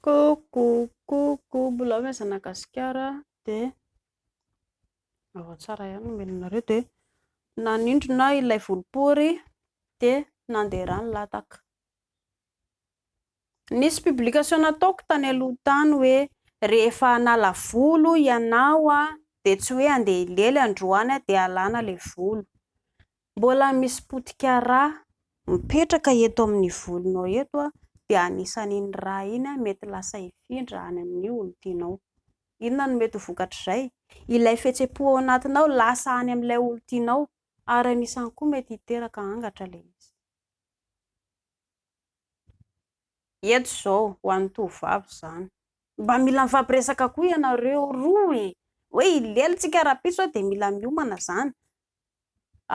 Coucou coucou mbola avy aza na gasikara de tsara ihany ny omenareo de nanindrona ilay volopory de nandeha ra ny lataka nisy publication nataoko tany aloha tany hoe rehefa hanala volo ianao dia tsy hoe handeha hilely androany dia alana ilay volo Mbola misy potika rà mipetraka eto amin'ny volonao eto dia anisan'iny rà iny mety lasa hifindra any amin'ny olon-tianao. Inona no mety ho vokatr'izay? Ilay fihetsem-po ao anatinao lasa any amin'ilay olon-tianao ary anisany koa mety hiteraka angatra ilay izy. Eto izao ho an'ny tovovavy izany. Mba mila mifampiresaka koa ianareo roa e! Hoe hilely tsika rahampitso a dia mila miomana izany.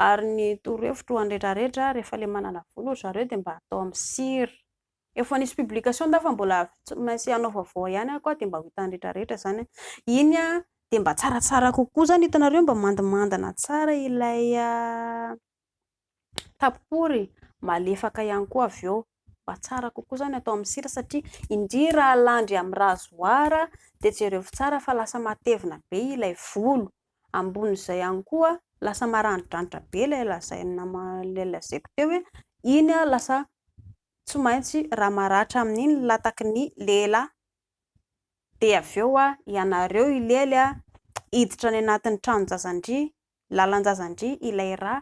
Ary ny torohevitro ho an'ny retraretra a, rehefa ilay manana vola ry zareo dia mba atao amin'ny sir. Efa nisy publication tao fa mbola tsy maintsy hanao vaovao ihany aho koa dia mba ho hitan'ny retraretra izany a. Iny a dia mba tsaratsara kokoa izany hitanareo mba mandimandina tsara ilay tapory malefaka ihany koa avy eo mba tsara kokoa izany atao amin'ny sira satria indrindra raha alandry amin'ny rasoir dia jerevo tsara fa lasa matevina be ilay volo, ambonin'izay ihany koa lasa maranidranitra be ilay lazaina ilay lazaiko teo hoe iny aho lasa tsy maintsy raha maratra amin'iny ny lataky ny lehilahy dia avy eo aho ianareo hilely aho hiditra any anatin'ny tranon-jazandria Lalan-jaza-ndry ilay ra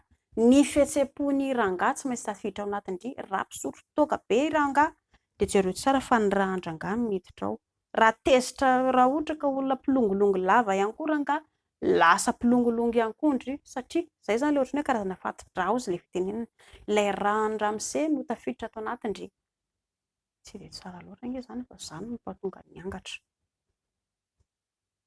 ny fihetsem-pon'i rangahy tsy maintsy tafiditra ao anatin-dry raha mpisotro toaka be i rangahy dia jereo tsara fa ny ra an-drangahy no miditra ao ra tezitra raha ohatra ka olona mpilongilongy lava ihany koa rangahy lasa mpilongilongy ihany koa ndry satria izay izany ilay ohatran'ny hoe karazana fati-draozy ilay fitenenana ilay ra an'i ramose no tafiditra ato anatin-dry tsy dia tsara loatra ange izany fa izany no mpahatonga ny angatra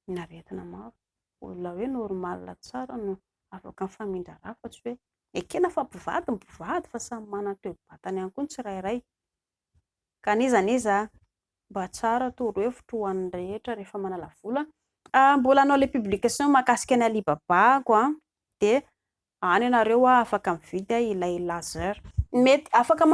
ny aretina maro. Olona hoe normal tsara no afaka mifamindra ra fa tsy hoe ekena fa mpivady ny mpivady fa samy manana ny toe-batany ihany koa ny tsirairay. Ka n'iza n'iza mba tsara torohevitro ho an'ny rehetra rehefa manala vola an! Mbola hanao ilay publication mahakasika an'i Alibaba aho an! Dia any ianareo an afaka mividy ilay laser. Mety afaka